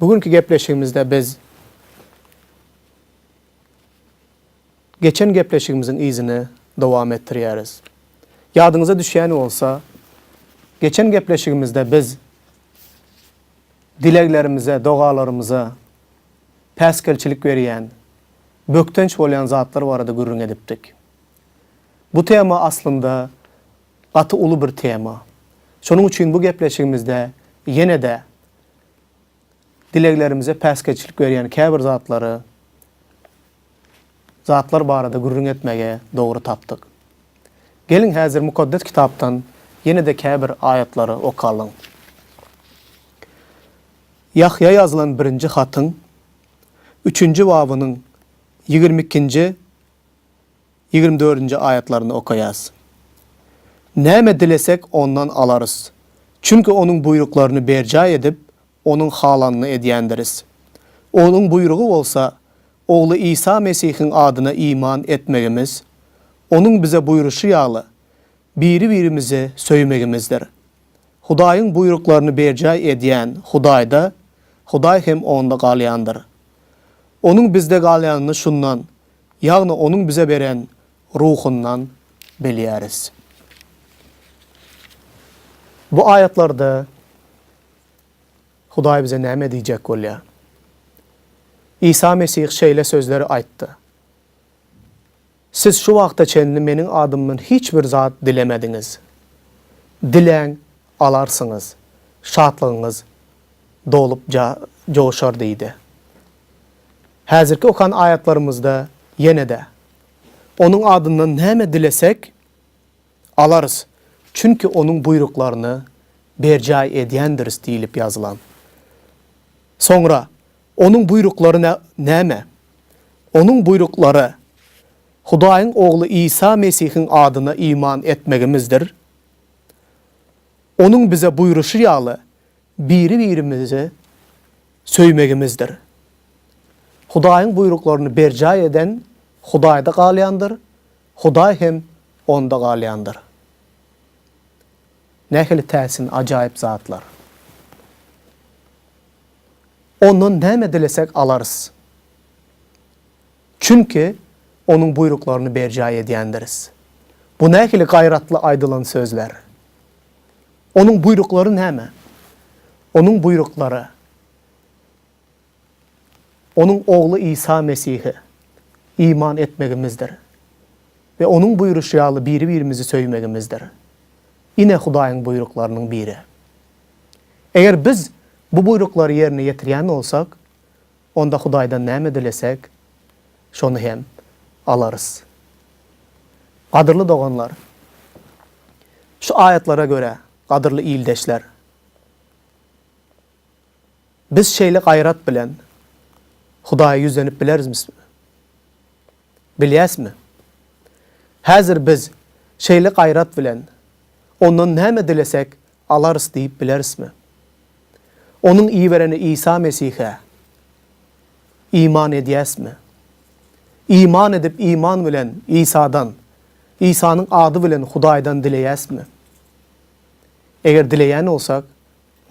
Bu günki gepleşigimizde biz geçen gepleşigimiziň yzyny dowam etdirýäris. Ýadyňyza düşýän bolsa, geçen gepleşigimizde biz dileglerimize, dogalarymyza päsgelçilik berýän, bökdenç bolýan zatlar barada gürrüň edipdik. Bu tema aslynda gaty uly bir tema. Şonuň üçin bu gepleşigimizde ýene-de dileglerimize päsgelçilik berýän käbir zatlary, zatlar barada gürrüň etmegi dogry tapdyk. Geliň häzir Mukaddes Kitapdan ýene-de käbir aýatlary okalyň. Ýahýa ýazylan birinji hatyň üçünji babynyň ýigrimi ikinji Ýigrimi dördünji aýatlaryny okaýas. Näme dilesek Ondan alarys. Çünki Onuň buýruklaryny berjaý edip, Onuň halanyny edýändiris. Onuň buýrugy bolsa, Ogly Isa Mesihiň adyna iman etmegimiz, Onuň bize buýruşy ýaly, biri-birimizi söýmegimizdir. Hudaýyň buýruklaryny berjaý edýän Hudaýda, Hudaý hem onda galýandyr. Onuň bizde galýanyny şundan, ýagny Onuň bize beren Ruhundan bilýäris. Bu aýatlarda Hudaý bize näme diýjek bolýar? Isa Mesih şeýle sözleri aýtdy, Siz şu wagta çenli Meniň adymdan hiç bir zat dilemediňiz. Diläň, alarsyňyz, şatlygyňyz dolup joşar diýdi. Häzirki okan aýatlarymyzda ýene-de, Onuň adyndan näme dilesek, alarys, çünki Onuň buýruklaryny berjaý edýändiris diýlip ýazylan. Soňra Onuň buýruklary näme? Onuň buýruklary, Hudaýyň Ogly Isa Mesihiň adyna iman etmegimizdir. Onuň bize buýruşy ýaly, biri-birimizi söýmegimizdir. Hudaýyň buýruklaryny berjaý eden Hudaýda galýandyr, Hudaý hem onda galýandyr. Nähili täsin, ajaýyp zatlar! Ondan näme dilesek alarys. Çünki Onuň buýruklaryny berjaý edýändiris. Bu nähili gaýratly aýdylan sözler! Onuň buýruklary näme? Onuň buýruklary, Onuň Ogly Isa Mesihe iman etmegimizdir we Onuň buýruşy ýaly biri-birimizi söýmegimizdir. Ine Hudaýyň buýruklarynyň biri. Eger biz bu buýruklary ýerine ýetirýän bolsak, Onda Hudaýdan näme dilesek, şony hem alarys. Gadyrly doganlar, şu aýatlara görä, gadyrly ildeşler, biz şeýle gaýrat bilen Hudaýa ýüzlenip bilerizmismi? Bilýäsmi? Häzir biz şeýle gaýrat bilen Ondan näme dilesek, Alarys diýip bilerismi? Onuň ibereni Isa Mesihe iman edýäsmi? Iman edip iman bilen Isadan, Isanyň ady bilen Hudaýdan dileýäsmi? Eger dileýän bolsak,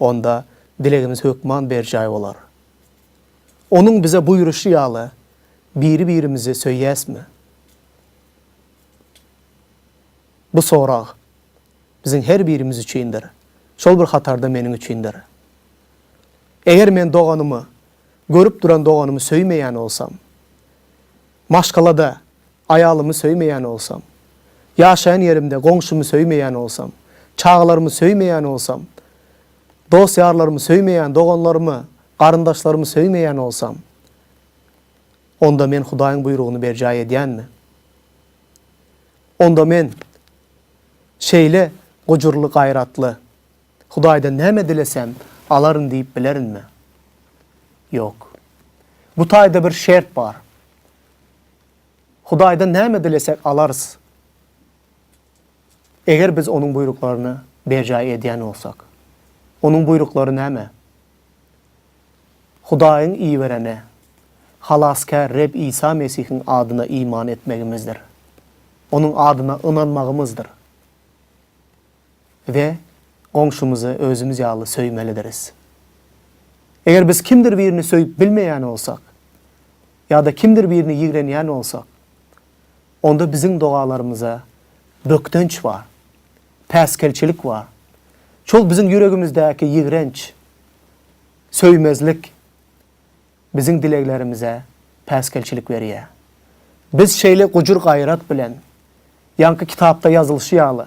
onda dilegimiz hökman berjaý bolar. Onuň bize buýruşy ýaly biri-birimizi söýýäsmi? Bu sorag. biziň her birimiz üçindir, şol bir hatarda meniň üçindir. Eger men doganymy, görüp duran doganymy söýmeýän bolsam, maşgalada aýalymy söýmeýän bolsam, ýaşaýan ýerimde goňşymy söýmeýän bolsam, çagalarymy söýmeýän bolsam, dost-ýarlarymy söýmeýän, doganlarymy, garyndaşlarymy söýmeýän bolsam, onda men Hudaýyň buýrugyny berjaý edýänmi? Onda men şeýle gujurly-gaýratly, Hudaýdan näme dilesem, alaryn diýip bilerinmi? Ýok. Bu taýda bir şert bar. Hudaýdan näme dilesek alarys, eger biz Onuň buýruklaryny berjaý edýän bolsak. Onuň buýruklary näme? Hudaýyň iberene, Halasgär Reb Isa Mesihiň adyna iman etmegimizdir, Onuň adyna ynanmagymyzdyr we goňşymyzy özümiz ýaly söýmelidiris. Eger biz kimdir birini söýüp bilmeýän bolsak ýa-da kimdir birini ýigrenýän bolsak, onda biziň dogalarymyza bökdenç bar. päsgelçilik bar. Şol biziň ýüregimizdäki ýigrenç, söýmezlik biziň dileglerimize päsgelçilik berýär. Biz şeýle gujur-gaýrat bilen, ýaňky kitapda ýazylyşy ýaly,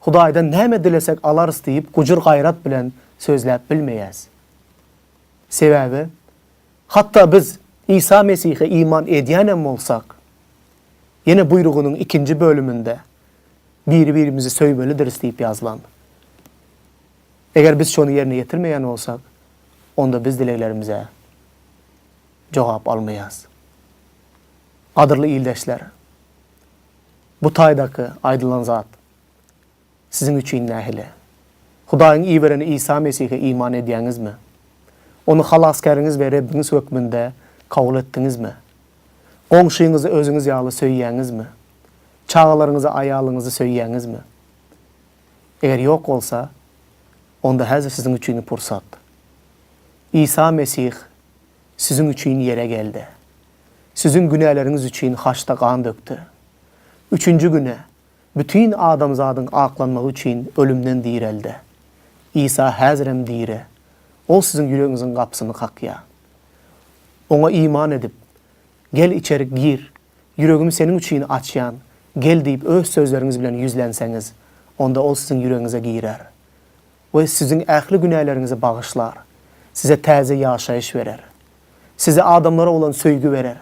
Hudaýdan näme dilesek alarys diýip gujur-gaýrat bilen sözläp bilmeýäs. Sebäbi, hatda biz Isa Mesihe iman edýänem bolsak, Ýene buýrugynyň ikinji bölüminde Biri-birimizi söýmelidiris diýip ýazylan. Eger biz şony ýerine ýetirmeýän bolsak, onda biz dileglerimize jogap almaýarys. Gadyrly ildeşler, bu taýdaky aýdylan zat Siziň üçin nähili? Hudaýyň iberen Isa Mesihe iman edýäňizmi? Ony Halasgäriňiz we Rebbiňiz hökmünde kabul etdiňizmi? Goňşyňyzy özüňiz ýaly söýýäňizmi? Çagalaryňyzy, aýalyňyzy söýýäňizmi? Eger ýok bolsa, onda häzir siziň üçin pursat. Isa Mesih siziň üçin ýere geldi. Siziň günäleriňiz üçin haçda gan dökdi. Üçünji güne Bütin adamzadyň aklanmagy üçin ölümden direl-de. Isa häzirem diri. Ol siziň ýüregiňiziň gapysyny kakýar. Oňa iman edip, Gel, içerik gir, ýüregimi seniň üçin açýan, gel diýip öz sözleriňiz bilen ýüzlenseňiz, onda Ol siziň ýüregiňize girer we siziň ähli günäleriňizi bagyşlar, size täze ýaşaýyş berer. Size adamlara bolan söýgi berer.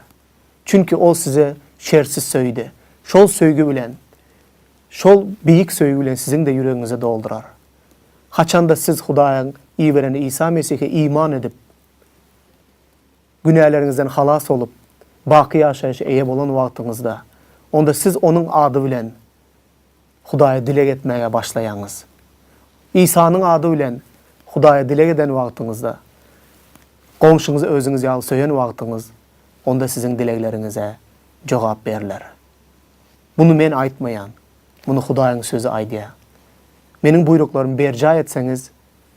Çünki Ol sizi şertsiz söýdi. Şol söýgi bilen, şol beýik söýgi bilen siziň-de ýüregiňizi doldurar. Haçanda siz Hudaýyň iberen Isa Mesihe iman edip, günäleriňizden halas bolup, baky ýaşaýşa eýe bolan wagtyňyzda, onda siz Onuň ady bilen Hudaýa dileg etmäge başlaýaňyz. Isanyň ady bilen Hudaýa dileg eden wagtyňyzda, goňşyňyzy özüňiz ýaly söýen wagtyňyz, onda siziň dilegleriňize jogap berler. Muny men aýtmaýan, muny Hudaýyň sözi aýdýar. Meniň buýruklarymy berjaý etseňiz,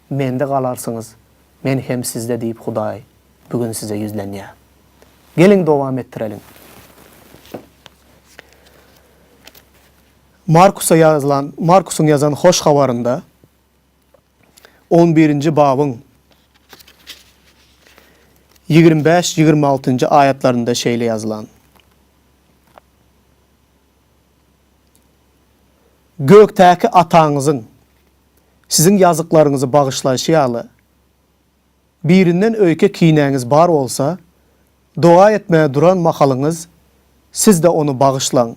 Mende galarsyňyz, Men hem sizde diýip Hudaý bu gün size ýüzlenýär. Geliň dowam etdireliň. Markusa ýazylan, Markusyň ýazan Hoş Habarynda on birinji babyň ýigrimi bäş, ýigrimi altynjy aýatlarynda şeýle ýazylan, Gökdäki Ataňyzyň siziň ýazyklaryňyzy bagyşlaýşy ýaly, Birinden öýke kinäňiz bar bolsa, doga etmäge duran mahalyňyz siz-de ony bagyşlaň.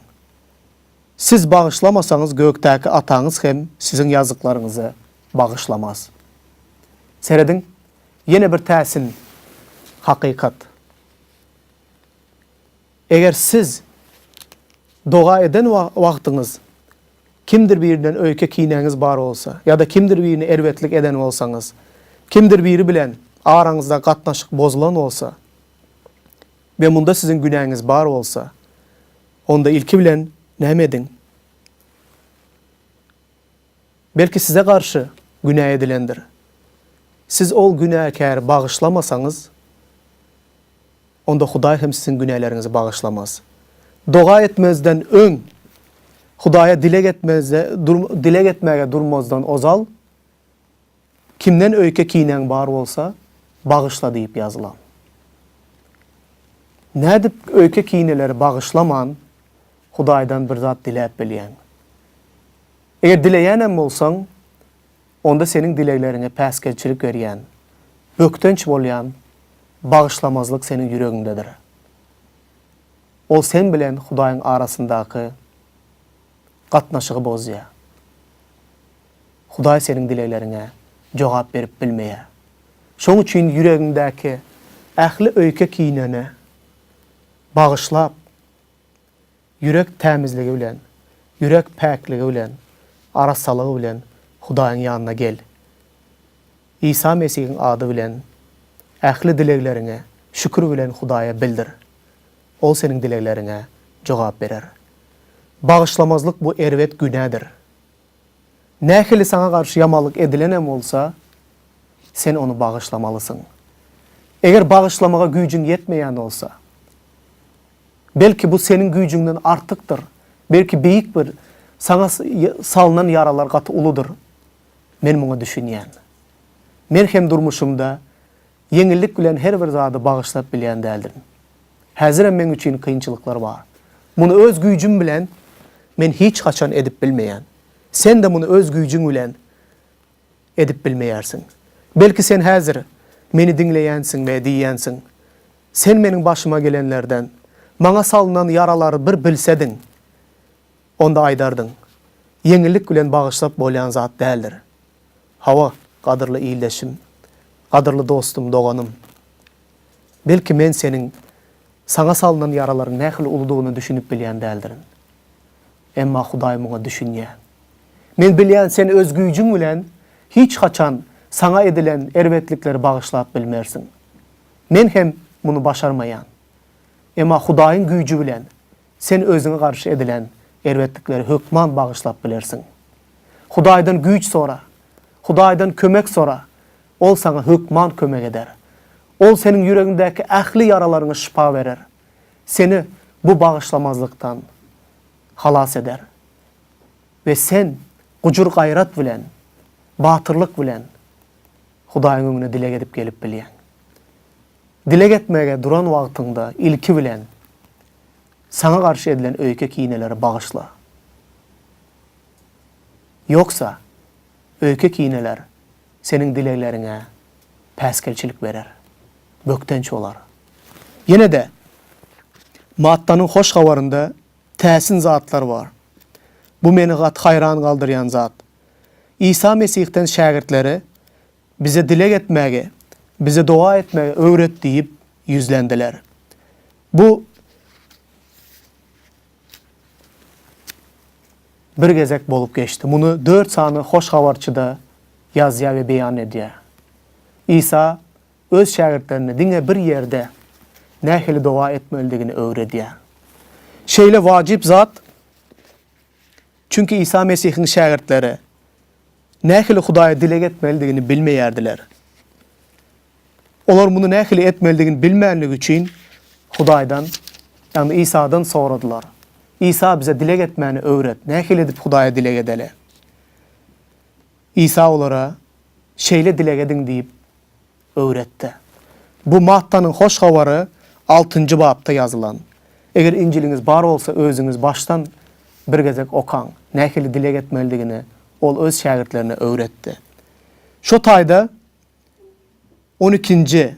Siz bagyşlamasaňyz gökdäki Ataňyz hem siziň ýazyklarňyzy bagyşlamaz. Serediň, ýene bir täsin hakykat. Eger siz doga eden wagtyňyz kimdir birinden öýke kinäňiz bar bolsa ýa-da kimdir birine erbetlik eden bolsaňyz, kimdir biri bilen araňyzdaky gatnaşyk bozulan bolsa we munda siziň günäňiz bar bolsa, onda ilki bilen näme ediň? Belki size garşy günä edilendir. Siz ol günäkäri bagyşlamasaňyz, Onda Hudaý hem siziň günäleriňizi bagyşlamaz. Doga etmezden öň, Hudaýa dileg etmezde, dileg etmäge durmazdan ozal, Kimden öýke kinäň bar bolsa, bagyşla diýip ýazylan. Nädip öýke kineleri bagyşlaman, Hudaýdan bir zat diläp bilýäň? Eger dileýänem bolsaň, Onda seniň dilegleriňe päsgelçilik berýän, bökdenç bolýan bagyşlamazlyk seniň ýüregiňdedir. Ol sen bilen Hudaýyň arasyndaky gatnaşygy bozýar. Hudaý seniň dilegleriňe jogap berip bilmeýär. Şoň üçin ýüregiňdäki ähli öýke-kineni bagyşlap, Ýürek tämizligi bilen, ýürek päkligi bilen, arassalygy bilen Hudaýyň ýanyna gel. Isa Mesihiň ady bilen ähli dilegleriňi şükür bilen Hudaýa bildir. Ol seniň dilegleriňe jogap berer. Bagyşlamazlyk bu erbet günädir. Nähili saňa garşy ýamanlyk edilen hem bolsa, sen ony bagyşlamalysyň. Eger bagyşlamaga güýjüň ýetmeýän bolsa, Belki bu seniň güýjüňden artykdyr, belki beýik bir Saňa salnan ýaralar gaty uludyr. Men muňa düşünýän. Men hem durmuşymda ýeňillik bilen her bir zady bagyşlap bilýän däldirin. Häzirem meň üçin kynçylyklar bar. Muny öz güýjüm bilen men hiç haçan edip bilmeýän. Sen-de muny öz güýjüň bilen edip bilmeýärsiň. Belki sen häzir meni diňleýänsiň we diýýänsiň, Sen meniň başyma gelenlerden, maňa salnan ýaralary bir bilsediň, onda aýdardyň, ýeňillik bilen bagyşlap bolýan zat däldir. Hawa, gadyrly ildeşim, gadyrly dostum, doganym, belki men seniň saňa salnan ýaralaryň nähili uludygyna düşünip bilýän däldirin. Emma Hudaý muňa düşünýär. Men bilýän, sen öz güýjüň bilen hiç haçan saňa edilen erbetlikleri bagyşlap bilmersiň. Men hem muny başarmaýan. Emma Hudaýyň güýji bilen sen özüňe garşy edilen erbetlikleri hökman bagyşlap bilersiň. Hudaýdan güýç sora. Hudaýdan kömek sora. Ol saňa hökman kömek eder. Ol seniň ýüregiňdäki ähli ýaralaryňa şypa berer. Seni bu bagyşlamazlykdan halas eder we sen gujur-gaýrat bilen, batyrlyk bilen Hudaýyň öňüne dileg edip gelip bilýäň. Dileg etmäge duran wagtyňda ilki bilen saňa garşy edilen öýke-kineleri bagyşla. Ýogsa, öýke-kineler seniň dilegleriňe päsgelçilik berer, bökdenç bolar. Ýene-de, Mattanyň Hoş Habarynda täsin zatlar bar. Bu meni gaty haýran galdyrýan zat. Isa Mesihden şägirtleri, Bize dileg etmäge, bize doga etmegi öwret diýip ýüzlendiler. Bu bir gezek bolup geçdi. Muny dört sany hoş habarçy-da ýazýar we beýan edýär. Isa öz şägirtlerine diňe bir ýerde nähili doga etmelidigini öwredýär. Şeýle wajyp zat, çünki Isa Mesihiň şägirtleri nähili Hudaýa dileg etmelidigini bilmeýärdiler. Olar muny nähili etmelidigini bilmänligi üçin Hudaýdan, ýagny Isadan soradylar. Isa bize dileg etmäni öwret, nähili edip Hudaýa dileg edeli? Isa olara, Şeýle dileg ediň diýip öwretdi. Bu Mattanyň Hoş Habary altynjy bapda ýazylan. Eger Injiliňiz bar bolsa, özüňiz başdan bir gezek okaň. Nähili dileg etmelidigini ol öz şägirtlerine öwretdi. Şo taýda on ikinji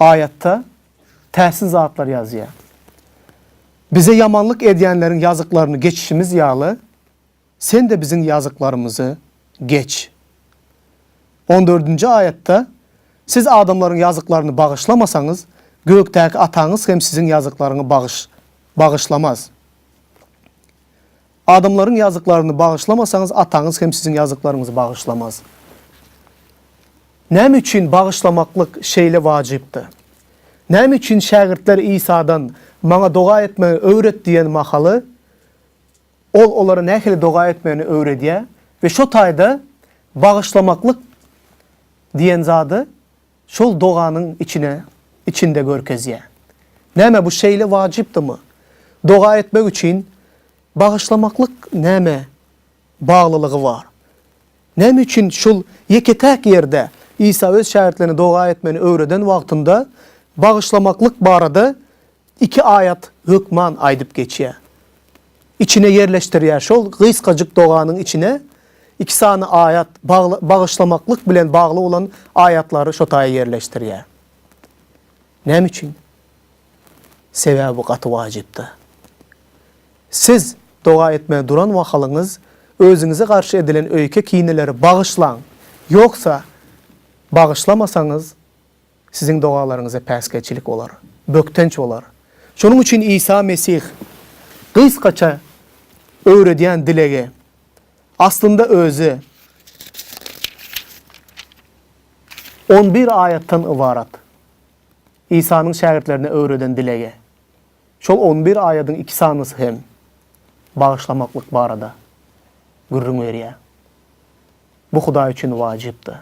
aýatda täsin zatlar ýazýar. Bize ýamanlyk edýänleriň ýazyklaryny geçişimiz ýaly, Sen-de biziň ýazyklarymyzy geç. On dördünji aýatda, Siz adamlaryň ýazyklaryny bagyşlamasaňyz, gökdäki Ataňyz hem siziň ýazyklaryňy bagyş, bagyşlamaz. Adamlaryň ýazyklaryny bagyşlamasaňyz, Ataňyz hem siziň ýazyklaryňyzy bagyşlamaz. Näme üçin bagyşlamaklyk şeýle wajypdy? Näme üçin şägirtler Isadan, Maňa doga etmegi öwret diýen mahaly, Ol olara nähili doga etmegini öwredýär we şo taýda bagyşlamaklyk diýen zady şol doganyň içine içinde görkezýär. Näme bu şeýle wajypdymy? Doga etmek üçin bagyşlamaklyk näme baglylygy bar? Näme üçin şol ýeke-täk ýerde Isa öz şägirtlerine doga etmegini öwreden wagtynda bagyşlamaklyk barada Iki aýat hökman aýdyp geçýär. Içine ýerleşdirýär. Şol gysgajyk doganyň içine iki sany aýat, bagly, bagyşlamaklyk bilen bagly bolan aýatlary şo taýa ýerleşdirýär. Näme üçin? Sebäbi bu gaty wajypdy. Siz doga etmäge duran mahalyňyz özüňize garşy edilen öýke-kineleri bagyşlaň. Ýogsa, bagyşlamasaňyz, Siziň dogalaryňyza päsgelçilik bolar, bökdenç bolar. Şonuň üçin Isa Mesih gysgaça öwredýän dilegi, aslynda özi, on bir aýatdan ybarat. Isanyň şägirtlerine öwreden dilegi, şol on bir aýadyň iki sanysy hem bagyşlamaklyk barada gürrüň berýär. Bu Hudaý üçin wajypdy.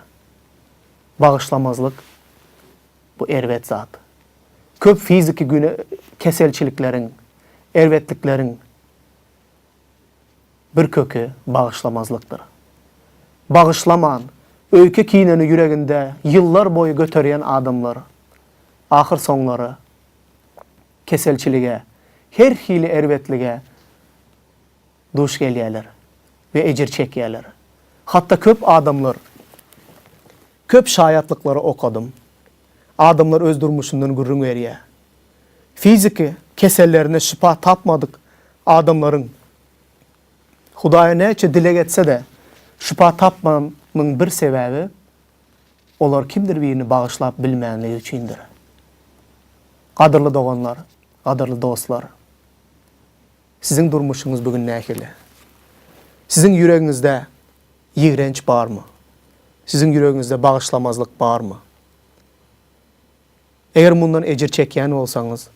Bagyşlamazlyk, bu erbet zat. Köp fiziki keselçilikleriň, erbetlikleriň bir köki bagyşlamazlykdyr. Bagyşlaman, öýke kineni ýüreginde ýyllar boýy göterýän adamlar, ahyrsoňlary keselçilige, her hili erbetlige duş gelýärler we ejir çekýärler. Hatda köp adamlar, köp şaýatlyklary okadym. Adamlar öz durmuşyndan gürrüň berýär. Fiziki kesellerine şypa tapmadyk adamlaryň Hudaýa näçe dileg etse-de, şypa tapmanyň bir sebäbi, olar kimdir birini bagyşlap bilmänligi üçindir. Gadyrly doganlar, gadyrly dostlar! Siziň durmuşyňyz bu gün nähili? Siziň ýüregiňizde ýigrenç barmy? Siziň ýüregiňizde bagyşlamazlyk barmy? Eger mundan ejir çekýän bolsaňyz,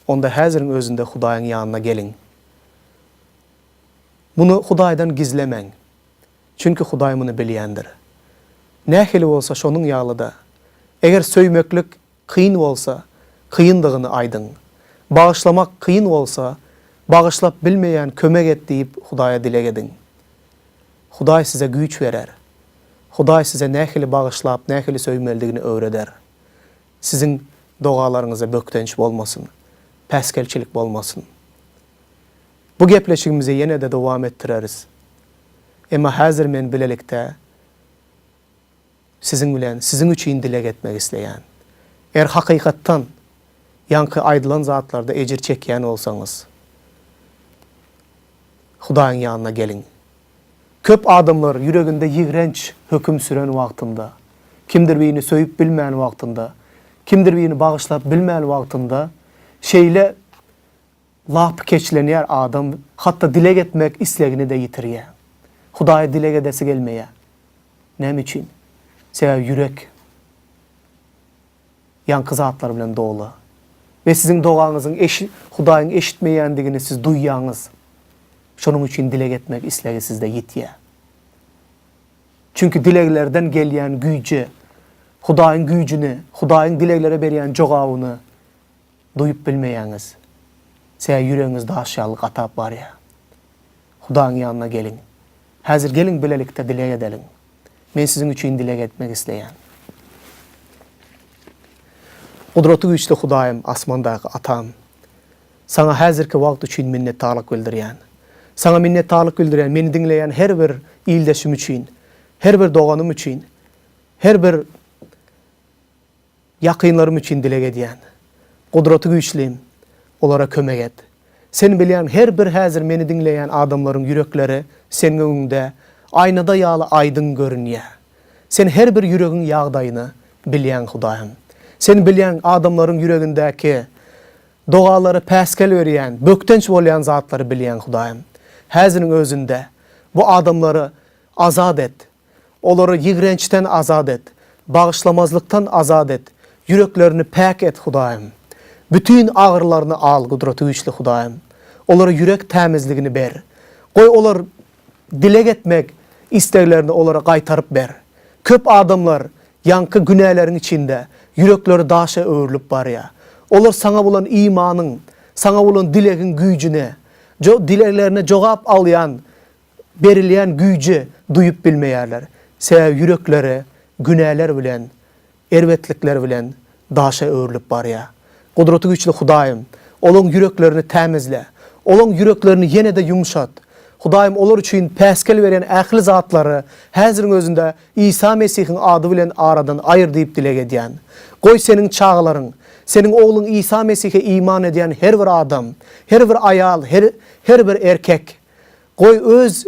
onda häziriň özünde Hudaýyň ýanyna geliň. Muny Hudaýdan gizlemäň, çünki Hudaý muny bilýändir. Nähili bolsa şonuň ýaly-da, eger söýmeklik Kyn bolsa, kyndygyny aýdyň. Bagyşlamak kyn bolsa, bagyşlap bilmeýän kömek et diýip Hudaýa dileg ediň. Hudaý size güýç berer. Hudaý size nähili bagyşlap, nähili söýmelidigini öwreder. Siziň dogalaryňyza bökdenç bolmasyn, päsgelçilik bolmasyn. Bu gepleşigimizi ýene-de dowam etdireris. Emma häzir men bilelikde. Siziň bilen siziň üçin dileg etmek isleýän. Eger hakykatdan ýaňky aýdylan zatlarda ejir çekýän bolsaňyz, Hudaýyň ýanyna geliň. Köp adamlar ýüreginde ýigrenç höküm süren wagtynda, kimdir birini söýüp bilmän wagtynda, kimdir birini bagyşlap bilmän wagtynda şeýle Lapykeçlenýär adam, hatda dileg etmek islegini-de ýitirýär. Hudaýa dileg edesi gelmeýär. Näme üçin? Sebäbi ýürek ýaňky zatlar bilen doly. We siziň dogaňyzyň eşi, Hudaýyň eşitmeýändigini siz duýýaňyz. Şonuň üçin dileg etmek islegi sizde ýitýär. Çünki dileglerden gelýän güýji, Hudaýyň güýjüni, Hudaýyň dileglere berýän jogabyny, Duýup bilmeýäňiz. Çeýe ýüregiňiz daş ýaly gatap barýar. Hudaň ýanyna geliň. Häzir geliň bilelikde dileg edeliň. Men siziň üçin dileg etmek isleýän. Gudraty güýçli Hudaýym, asmandaky Atam! Saňa häzirki wagt üçin minnetdarlyk bildirýän. Saňa minnetdarlyk bildirýän meni diňleýän her bir ildeşim üçin, her bir doganym üçin, her bir Ýakynlarym üçin dileg edýän. Gudraty güýçlim, olara kömek et. Sen bilýäň, her bir häzir meni diňleýän adamlaryň ýürekleri Seň öňüňde aýnada ýaly aýdyň görünýär. Sen her bir ýüregiň ýagdaýyny bilýäň, Hudaýym. Sen bilýäň, adamlaryň ýüregindäki, dogalary päsgel berýän, bökdenç bolýan zatlary bilýäň, Hudaýym. Häziriň özünde bu adamlary azat et. Olary ýigrençden azat et, bagyşlamazlykdan azat et, ýüreklerini päk et, Hudaýym. Bütin agyrylaryny al, Gudratygüýçli Hudaýym. Olara ýürek tämizligini ber. Goý, olar dileg etmek isleglerini olara gaýtaryp ber. Köp adamlar ýaňky günäleriň içinde ýürekleri daşa öwrülip barýar. Olar Saňa bolan imanyň, Saňa bolan dilegiň güýjüne, dileglerine jogap alýan berilýän güýji duýup bilmeýärler, sebäbi ýürekleri günäler bilen, erbetlikler bilen daşa öwrülip barýar. Gudraty güýçli Hudaýym, olaň ýüreklerini tämizle, olaň ýüreklerini ýene-de ýumşat. Hudaýym, olar üçin päsgel berýän ähli zatlary häziriň özünde Isa Mesihiň ady bilen aradan aýyr diýip dileg edýän. Goý, Seniň çagalaryň, Seniň Ogluň Isa Mesihe iman edýän her bir adam, her bir aýal, her, her bir erkek, Goý, öz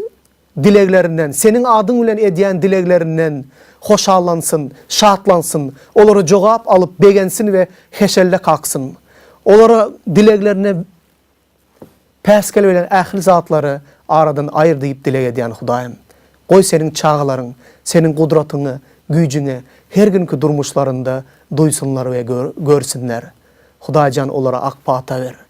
dileglerinden, Seniň adyň bilen edýän dileglerinden hoşallansyn, şatlansyn, olara jogap alyp begensin we heşelle kaksyn. Olara dileglerine päsgel bilen ähli zatlary aradan aýyr diýip dileg edýän Hudaýym. Goý, Seniň çagalaryň Seniň gudratyňy, güýjüňi her günki durmuşlarynda duýsunlar we görsünler. Hudaýjan, olara ak pata ber.